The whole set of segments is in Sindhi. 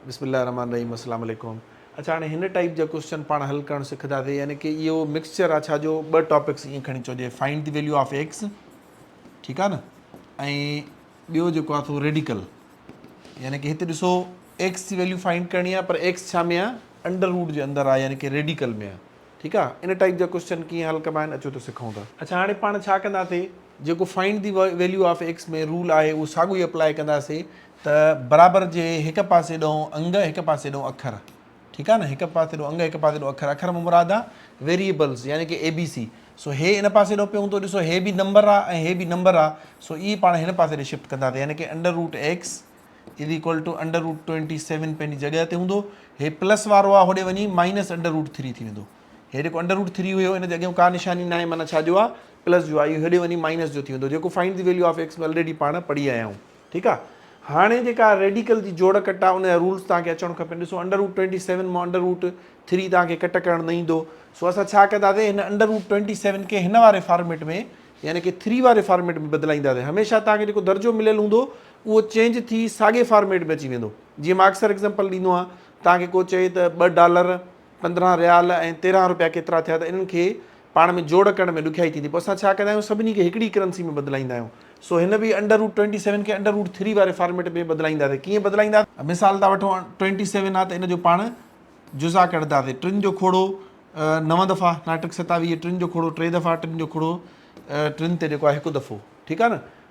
بسم الله الرحمٰن الرحيم السلام عليڪم اڇا هاڻي هن ٽائيپ جا ڪوسچن پاڻ حل ڪرڻ سکنداسين يعني ڪي اهو مڪسچر آ ڇا جو ٻه ٽاپڪس ائين کڻي چئو جي find the value of x ٺيڪ آ نه ۽ ٻيو جيڪو آ تو ريڊيڪل يعني ڪي هتي ڏسو ايڪس جي ويليو فائنڊ ڪرڻي آ پر ايڪس ڇا ۾ آ انڊر روٽ جي اندر آ يعني ڪي ريڊيڪل ۾ آ ٺيڪ آ ان ٽائيپ جا ڪوسچن ڪيئن حل ڪبا آهن اچو ته سکون ٿا. اڇا هاڻي پاڻ ڇا ڪنداسين جيڪو find the value of x ۾ rule آهي اهو ساڳو ئي اپلائي ڪنداسين ته برابر جي هڪ پاسي ڏئون انگ هڪ پاسي ڏئون اکر ٺيڪ آهي نه هڪ پاسي ڏئون انگ هڪ پاسي ڏئون اکر اکر مان مراد آهي ويريبلز يعني ڪي اي بي سي سو هي ان پاسي ڏئون پيون ٿو ڏسو هي به نمبر آهي ۽ هي به نمبر آهي سو اي پاڻ هن پاسي ڏي شفٽ ڪنداسي يعني ڪي under root x is equal to under root twenty seven پنهنجي جڳهه تي هوندو هي پلس وارو آهي هوڏي وڃي مائنس انڊر روٽ ٿري ٿي ويندو هي جيڪو انڊر روٽ ٿري هيو هن جي اڳيان ڪا نشاني ناهي معنيٰ ڇا جو آهي پلس جو آهي اهو هيڏي وڃي مائنس جو ٿي ويندو جيڪو find the value of x ۾ already پاڻ پڙهي آيا آهيون ٺيڪ آ هاڻي جيڪا ريڊيڪل جي جوڙ ڪٽ آ ان جا رولز توهان کي اچڻ کپين ڏسو انڊر روٽ ٽوئنٽي سيون مان انڊر روٽ ٿري توهان کي ڪٽ ڪرڻ نه ايندو سو اسان ڇا ڪنداسي هن انڊر روٽ ٽوئنٽي سيون کي هن واري فارميٽ ۾ يعني ڪي ٿري واري فارميٽ ۾ بدلائينداسي هميشه توهان کي جيڪو درجو مليل هوندو اهو چينج ٿي ساڳي فارميٽ ۾ اچي ويندو جيئن مان اڪثر ايگزامپل ڏيندو آهيان توهان کي ڪو چئي ته ٻه ڊالر پندرهن ريال ۽ تيرهن روپيا ڪيترا ٿيا ته انهن کي پاڻ ۾ جوڙ ڪرڻ ۾ ڏکيائي ٿيندي، پوء اسان ڇا ڪندا آهيون سڀني کي هڪڙي ڪرنسي ۾ بدلائيندا آهيون، سو هن به انڊر روٽ ٽوئنٽي سيون کي انڊر روٽ ٿري واري فارميٽ ۾ بدلائينداسين، ڪيئن بدلائينداسين؟ مثال ٿا وٺون ٽوئنٽي سيون آهي ته ان جو پاڻ جزا ڪڍنداسين، ٽن جو کوڙو نو دفعا، ناٽڪ ستاويهه، ٽن جو کوڙو ٽي دفعا، ٽن جو کوڙو ٽن تي جيڪو آهي هڪ دفعو، ٺيڪ آهي نه؟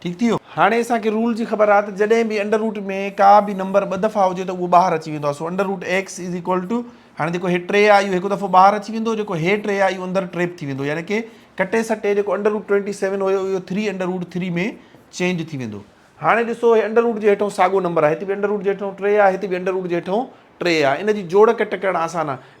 ٺيڪ ٿي ويو. هاڻي اسان کي رول جي خبر آهي ته جڏهن به انڊر روٽ ۾ ڪا به نمبر ٻه دفعا هجي ته اهو ٻاهر اچي ويندو آهي سو under root x is equal to هاڻي جيڪو هي ٽي آهي اهو هڪ دفعو ٻاهر اچي ويندو جيڪو هي ٽي آهي اهو اندر ٽريپ ٿي ويندو يعني ڪي ڪٽي سٽي جيڪو انڊر روٽ ٽوئنٽي سيون هيو اهو three under root three ۾ change ٿي ويندو هاڻي ڏسو هي انڊر روٽ جي هيٺئون ساڳو نمبر آهي هتي به انڊر روٽ جي هيٺئون ٽي آهي هتي به انڊر روٽ جي هيٺئون ٽي آهي ان جي جوڙ ڪٽ ڪرڻ آسان آهي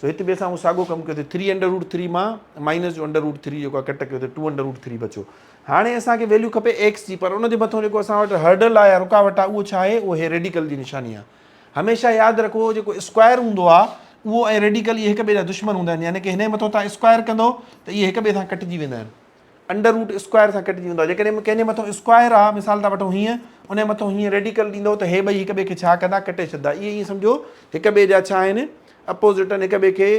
سو هت به اسان اهو ساڳو ڪم ڪيو ته ٿري انڊر روٽ ٿري مان مائنس جو انڊر روٽ ٿري جيڪو آهي ڪٽ ڪيو ته ٽو انڊر روٽ ٿري بچيو هاڻي اسان کي ويليو کپي ايڪس جي پر ان جي مٿو جيڪو اسان وٽ هرڊل آهي يا رڪاوٽ آهي اهو ڇا آهي اهو هي ريڊيڪل جي نشاني آهي هميشه ياد رکو جيڪو اسڪوائر هوندو آهي اهو ۽ ريڊيڪل اهي هڪ ٻئي جا دشمن هوندا آهن يعني ڪي هن جي مٿو تان اسڪوائر ڪندو ته اهي هڪ ٻئي سان ڪٽجي ويندا آهن انڊر روٽ اسڪوائر سان ڪٽجي ويندو آهي جيڪڏهن ڪنهن جي مٿو اسڪوائر آهي مثال ٿا وٺون هيئن ان جي مٿو هيئن ريڊيڪل ڏيندو ته هي ٻئي هڪ ٻئي کي ڇا ڪندا ڪٽي ڇڏندا اهي ائين سمجهو هڪ ٻئي جا ڇا آهن اپوزٽ آهن هڪ ٻئي کي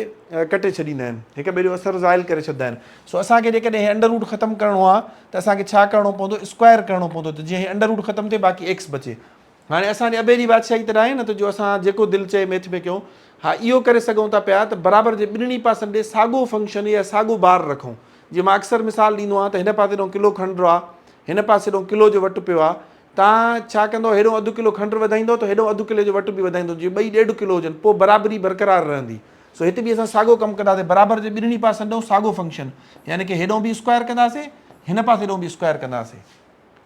ڪٽي ڇڏيندا آهن هڪ ٻئي جو اثر زائل ڪري ڇڏندا آهن سو اسان کي جيڪڏهن هي انڊر روٽ ختم ڪرڻو آهي ته اسان کي ڇا ڪرڻو پوندو اسڪوائر ڪرڻو پوندو ته جيئن هي انڊر روٽ ختم ٿئي باقي ايڪس بچي هاڻي اسان جي ابي جي بادشاهي ته ناهي نه ته جو اسان جيڪو دل چئي ميٿ ۾ ڪيون. ها اهو ڪري سگهون ٿا پيا ته برابر جي ٻنهي پاسن ڏي ساڳو فنڪشن يا ساڳو بار رکون. جيئن مان اڪثر مثال ڏيندو آهيان ته هن پاسي ڏانهن ڪلو کنڊ آ، هن پاسي ڏانهن ڪلو جو وٽ پيو آ. توهان ڇا ڪندؤ هيڏانهن اڌ ڪلو کنڊ وڌائيندؤ ته هيڏانهن اڌ ڪلي جو وٽ به وڌائيندؤ جيئن ٻئي ڏيڍ ڪلو هجن پوء برابري برقرار رهندي. سو هت به اسان ساڳو ڪم ڪنداسين برابر جي ٻنهي پاسن ڏانهن ساڳو فنڪشن يعني ڪه هيڏانهن به اسڪوائر ڪنداسين هن پاسي ڏانهن به اسڪوائر ڪنداسين.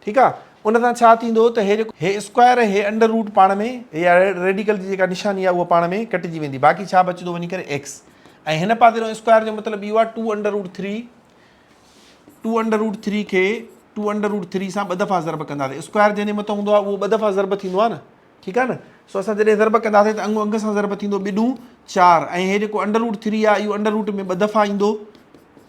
ٺيڪ آ ان سان ڇا ٿيندو ته هي جيڪو هي اسڪوائر ۽ هي انڊر روٽ پاڻ ۾ يا ريڊيڪل جي جيڪا نشاني آ اها پاڻ ۾ ڪٽجي ويندي باقي ڇا بچدو وڃي ڪري ايڪس ۽ هن پاسي جو اسڪوائر جو مطلب اهو آ two under root three two under root three کي ٽو انڊر روٽ ٿري سان ٻه دفعا ضرب ڪنداسي اسڪوائر جنهن جي مٿان هوندو آ اهو ٻه دفعا ضرب ٿيندو آ نه ٺيڪ آهي نه سو اسان جڏهن ضرب ڪنداسين ته انگون انگ سان ضرب ٿيندو ٻه ڏون چار ۽ هي جيڪو انڊر روٽ ٿري آهي اهو انڊر روٽ ۾ ٻه دفعا ايندو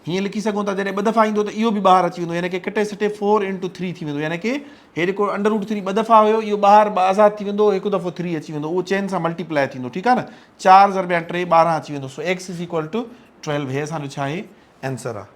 هيئن لکي سگهون ٿا جڏهن ٻه دفعا ايندو ته اهو به ٻاهر اچي ويندو يعنی ڪي ڪٽي سٽي فور انٽو ٿري ٿي ويندو يعنی ڪي هي جيڪو انڊر روٽ ٿري ٻه دفعا هيو اهو ٻاهر ٻه آزاد ٿي ويندو هڪ دفعو ٿري اچي ويندو اهو چئن سان ملٽيپلائي ٿيندو ٺيڪ آهي نه چار ضرب يا ٽي ٻارهن اچي ويندو سو x is equal to twelve هي اسانجو ڇا آهي آنسر آهي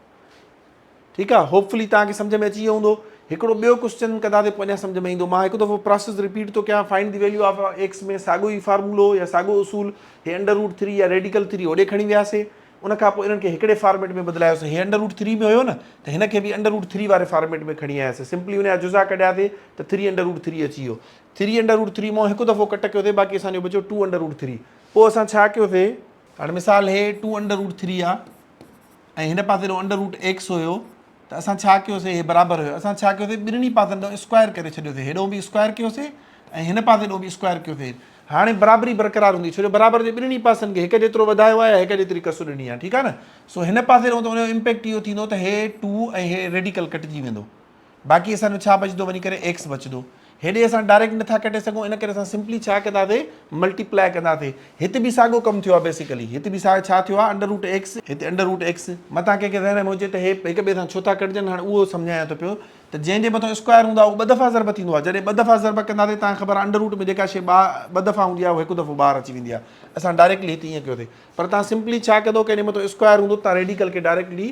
ٺيڪ آ هوپ فلي توهان کي سمجهه ۾ اچي ويو هوندو هڪڙو ٻيو ڪوسچن ڪندا تي پوء اڃا سمجهه ۾ ايندو مان هڪ دفعو پراسيس رپيٽ ٿو ڪيان find the value of x ۾ ساڳو ئي فارمولو يا ساڳو اصول هي انڊر روٽ ٿري يا ريڊيڪل ٿري هوڏي کڻي وياسي ان کان پوء انهن کي هڪڙي فارميٽ ۾ بدلايوسي هي انڊر روٽ ٿري ۾ هيو نه ته هن کي به انڊر روٽ ٿري واري فارميٽ ۾ کڻي آياسي سمپلي ان جا جزا ڪڍيا ٿي ته ٿري انڊر روٽ ٿري اچي ويو ٿري انڊر روٽ ٿري مان هڪ دفعو ڪٽ ڪيو ٿي باقي اسان جو بچو ٽو انڊر روٽ ٿري پوء اسان ڇا ڪيو ٿي هاڻي مثال هي ٽو انڊر روٽ ٿري آ ۽ هن پاسي ڏانهن انڊر روٽ ايڪس هيو ته اسان ڇا ڪيوسي هي برابر هيو اسان ڇا ڪيوسي ٻنهي پاسن ڏانهن اسڪوائر ڪري ڇڏيوسي هيڏو به اسڪوائر ڪيوسي ۽ هن پاسي ڏانهن به اسڪوائر ڪيوسي هاڻي برابري برقرار هوندي ڇو جو برابر جي ٻنهي پاسن کي هڪ جيترو وڌايو آهي يا هڪ جيتري ڪسر ڏني آهي ٺيڪ آهي نه سو هن پاسي ڏانهن ته ان جو امپيڪٽ اهو ٿيندو ته هي ٽو ۽ هي ريڊيڪل ڪٽجي ويندو باقي اسان جو ڇا بچدو وڃي ڪري ايڪس بچدو هيڏي اسان ڊائريڪٽ نٿا ڪڍي سگهون ان ڪري اسان سمپلي ڇا ڪنداسي ملٽيپلائي ڪنداسي هت به ساڳو ڪم ٿيو آهي بيسيڪلي هت به ساڳو ڇا ٿيو آهي انڊر روٽ ايڪس هت انڊر روٽ ايڪس متان ڪنهن کي ذهن ۾ هجي ته هي هڪ ٻئي سان ڇو ٿا ڪٽجن هاڻي اهو سمجهايان ٿو پيو ته جنهن جي مٿان اسڪوائر هوندو آهي اهو ٻه دفعا ضرب ٿيندو آهي جڏهن ٻه دفعا ضرب ڪنداسي تان خبر آهي انڊر روٽ ۾ جيڪا شي ٻا ٻه دفعا هوندي آهي اهو هڪ دفعو ٻاهر اچي ويندي آهي اسان ڊائريڪٽلي هت ائين ڪيوسي پر تان سمپلي ڇا ڪندو ڪنهن جي مٿان اسڪوائر هوندو تان ريڊيڪل کي ڊائريڪٽلي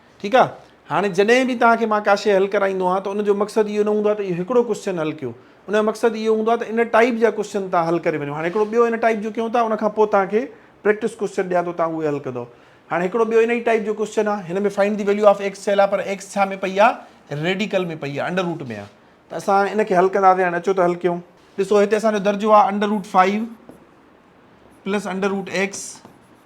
ٺيڪ آ هاڻي جڏهن به توهان کي مان ڪا شي حل ڪرائيندو آهيان ته ان جو مقصد اهو نه هوندو آهي ته اهو هڪڙو ڪوسچن حل ڪيو ان جو مقصد اهو هوندو آهي ته ان ٽائيپ جا ڪوسچن توهان حل ڪري وڃو هاڻي هڪڙو ٻيو ان ٽائيپ جو ڪيون ٿا ان کان پوء توهان کي پريڪٽس ڪوسچن ڏيان ٿو توهان اهي حل ڪندو هاڻي هڪڙو ٻيو ان ئي ٽائيپ جو ڪوسچن آهي هن ۾ find the value of x چيل آهي پر ايڪس ڇا ۾ پئي آهي ريڊيڪل ۾ پئي آهي انڊر روٽ ۾ آهي ته اسان ان کي حل ڪنداسين هاڻي اچو ته حل ڪيون ڏسو هتي اسان جو درجو آهي under root five plus under root x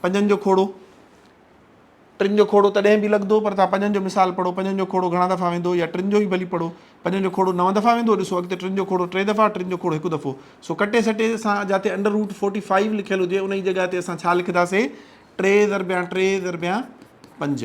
پنجن جو کوڙو، ٽن جو کوڙو تڏهن به لڳندو پر توهان پنجن جو مثال پڙهو، پنجن جو کوڙو گهڻا دفعا ويندو يا ٽن جو ئي ڀلي پڙهو، پنجن جو کوڙو نو دفعا ويندو ڏسو اڳتي ٽن جو کوڙو ٽي دفعا، ٽن جو کوڙو هڪ دفعو، سو ڪٽي سٽي اسان جاتي انڊر روٽ فورٽي فائيو لکيل هجي انهي جي جڳهه تي اسان ڇا لکنداسين ٽي ضربيان ٽي ضربيان پنج.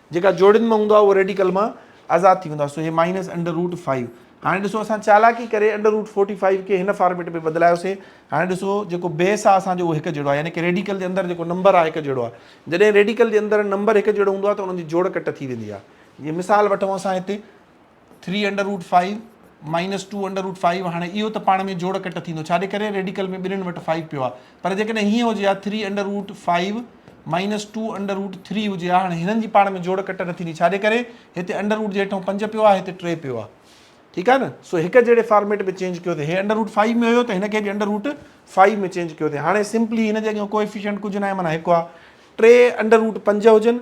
جيڪا جوڙين مان هوندو آهي اهو ريڊيڪل مان آزاد ٿي ويندو آهي سو هي مائنس انڊر روٽ فائيو هاڻي ڏسو اسان چالاڪي ڪري انڊر روٽ فورٽي فائيو کي هن فارميٽ ۾ بدلايوسين هاڻي ڏسو جيڪو بيس آهي اسانجو اهو هڪ جهڙو آهي يعني ڪي ريڊيڪل جي اندر جيڪو نمبر آهي هڪ جهڙو آهي جڏهن ريڊيڪل جي اندر نمبر هڪ جهڙو هوندو آهي ته انهن جي جوڙ ڪٽ ٿي ويندي آهي جي مثال وٺون اسان هتي three under root five minus two under root five هاڻي اهو ته پاڻ ۾ جوڙ ڪٽ ٿيندو ڇاجي ڪري ريڊيڪل ۾ ٻنهن وٽ فائيو پيو آهي پر جيڪڏهن هيئن هجي ها three under root five minus two under root three هجي ها هاڻي هنن جي پاڻ ۾ جوڙ ڪٽ نه ٿيندي ڇاجي ڪري هتي انڈر روٽ جي هيٺون پنج پيو آهي هتي ٽي پيو آهي ٺيڪ آهي نه سو هڪ جهڙي فارميٽ ۾ چينج ڪيو ته هي انڊر روٽ فائيو ۾ هيو ته هن کي به انڊر روٽ فائيو ۾ چينج ڪيو ته هاڻي سمپلي هن جي اڳيان ڪوئفيشنٽ ڪجهه نه آهي مانا هڪ آهي ٽي انڊر روٽ پنج هجن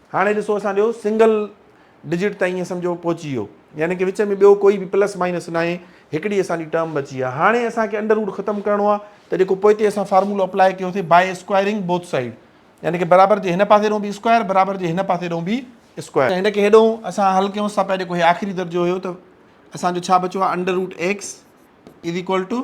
هاڻي ڏسو اسان جو سنگل ڊجٽ تائين ائين سمجهو پهچي ويو يعني ڪي وچ ۾ ٻيو ڪوئي به پلس مائنس ناهي هڪڙي اسان جي ٽرم بچي آهي هاڻي اسان کي انڊر روٽ ختم ڪرڻو آهي ته جيڪو پوئتي اسان فارمولو اپلائي ڪيو ٿي بائي اسڪوائرنگ بوٿ سائيڊ يعني ڪي برابر جي هن پاسي ڏون به اسڪوائر برابر جي هن پاسي ڏون به اسڪوائر هن کي هيڏون اسان حل ڪيون سا پئي جيڪو هي آخري درجو هيو ته اسان جو ڇا بچو آهي under root x is equal to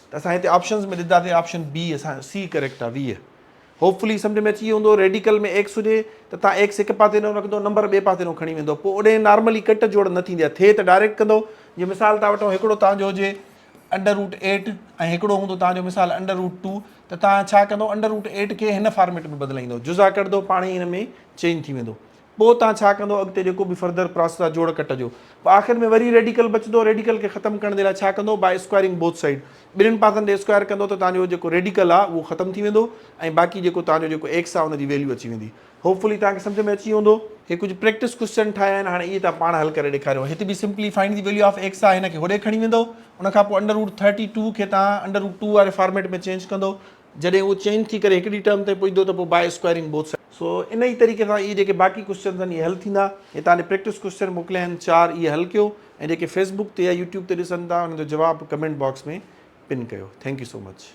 ته اسان هتي آپشنز ۾ ڏداسين آپشن بي اسان جو سي ڪريڪٽ آ ويهه هوپ فلي سمجهه ۾ اچي ويو هوندو ريڊيڪل ۾ ايڪس هجي ته تان ايڪس هڪ پاسي ڏانهن رکندو نمبر ٻئي پاسي ڏانهن کڻي ويندو پوء اوڏهين نارملي ڪٽ جوڙ نه ٿيندي آ ٿئي ته ڊائريڪٽ ڪندو جي مثال تان وٺون هڪڙو تان جو هجي انڊر روٽ ايٽ ۽ هڪڙو هوندو تان جو مثال انڊر روٽ ٽو ته تان ڇا ڪندو انڊر روٽ ايٽ کي هن فارميٽ ۾ بدلائيندو جزا ڪڍدو پاڻهي ان ۾ چينج ٿي ويندو پوء تان ڇا ڪندو اڳتي جيڪو به فردر پراسيس آ جوڙ ڪٽ جو پوء آخر ۾ وري ريڊيڪل بچندو ريڊيڪل کي ختم ڪرڻ جي لاء ڇا ڪندو باء اسڪوائرنگ بوٿ سائيڊ ٻنهن پاسن تي اسڪوائر ڪندو ته تانجو جيڪو ريڊيڪل آ اهو ختم ٿي ويندو ۽ باقي جيڪو تانجو جيڪو ايڪس آ ان جي ويليو اچي ويندي هوپ فلي تانکي سمجهه ۾ اچي ويو هوندو. هي ڪجهه پريڪٽس ڪوئسچن ٺاهيا آهن هاڻي اهي تان پاڻ حل ڪري ڏيکاريو هت به simply find the value of x آ هن کي هوڏي کڻي ويندو ان کان پوء انڊر روٽ ٿرٽي ٽو کي تان انڊر روٽ ٽو واري فارميٽ ۾ چينج ڪندو جڏهن اهو چين ٿي ڪري هڪڙي ٽرم تائين پڄندو ته پوء باء اسڪوائرنگ بوٿ سائيڊز. سو ان ئي طريقي سان اهي جيڪي باقي ڪوئسچنز آهن اهي حل ٿيندا. هتان ڏي پريڪٽس ڪوئسچن موڪليا آهن چار اهي حل ڪيو ۽ جيڪي فيسبوڪ تي يا يوٽيوب تي ڏسن ٿا انهن جو جواب ڪمينٽ باڪس ۾ پن ڪيو. Thank you so much.